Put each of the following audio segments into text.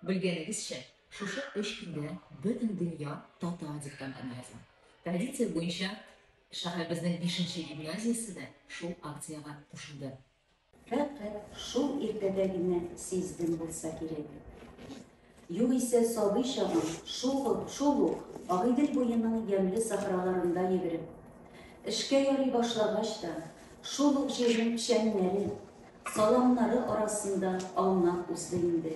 Белгәнегезчә, шушы өч көндә Бөтендөнья татар диктантын яза. Традиция буенча, шәһәребезнең бишенче гимназиясе дә шул акциягә кушылды. Фәкать шул иртәдә генә сиздем булса кирәк. Югыйсә сабый чагым шугы, шул ук Агыйдел буеның ямьле сахраларында йөгереп, эшкә ярый башлагач та, шул ук җирнең печәннәре, саламнары арасында аунап узды инде.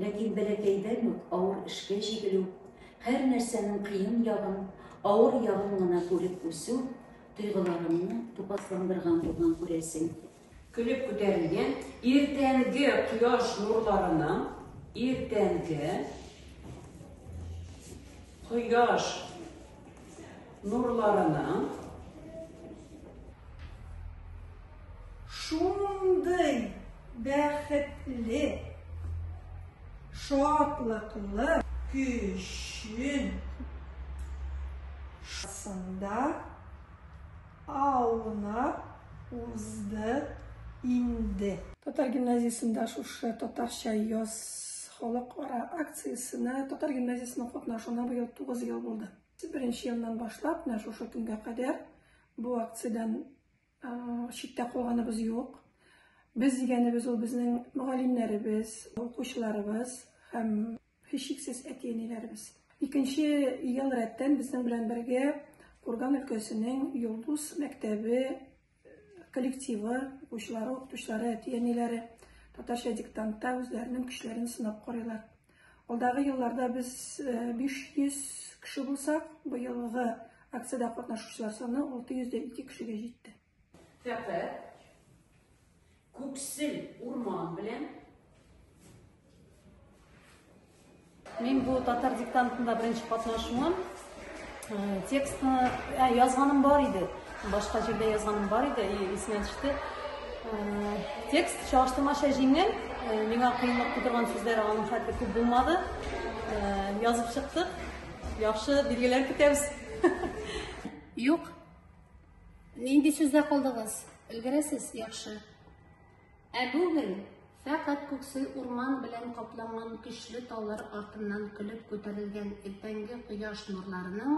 Ләкин бәләкәйдән үк авыр эшкә җигелү, һәр нәрсәнең кыен ягын, авыр ягын гына күреп үсү тойгыларымны тупасландырган булган, күрәсең. Көлеп күтәрелгән иртәнге кояш нурларының, иртәнге кояш нурларының шундый бәхетле, шатлыклы көчен шасында Аунап узды инде. Татар гимназиясендә шушы Татарча яз халыкара акциясенә татар гимназиясенең катнашуына быел тугыз ел булды. Беренче елдан башлап, менә шушы көнгә кадәр бу акциядән читтә калганыбыз юк. Без дигәнебез ул безнең мөгаллимнәребез, укучыларыбыз һәм Һичшиксез әти-әниләребез. Икенче ел рәттән безнең белән бергә Курган өлкәсенең Йолдыз мәктәбе э, коллективы, укучылары, укытучылары, әти-әниләре татарча диктантта үзләренең көчләрен сынап карыйлар. Алдагы елларда без 500 э, кеше булсак, быелгы акциядә катнашучылар саны 602 кешегә җитте. Фәкать күксел урман белән Мин бу татар диктантында беренче катнашуым. Э, текстны ә, э, язганым бар иде. Башка җирдә язганым бар иде, исенә төште. Э, текст чагыштырмача җиңел, миңа кыенлык тудырган сүзләр аның хәтле күп булмады. Язып чыктык. Яхшы билгеләр көтәбез. Юк, Нинди сүздә калдыгыз? Өлгерәсез, яхшы. Ә бүген фәкать күксе урман белән капланган көчле таулар артыннан көлеп күтәрелгән иртәнге кояш нурларының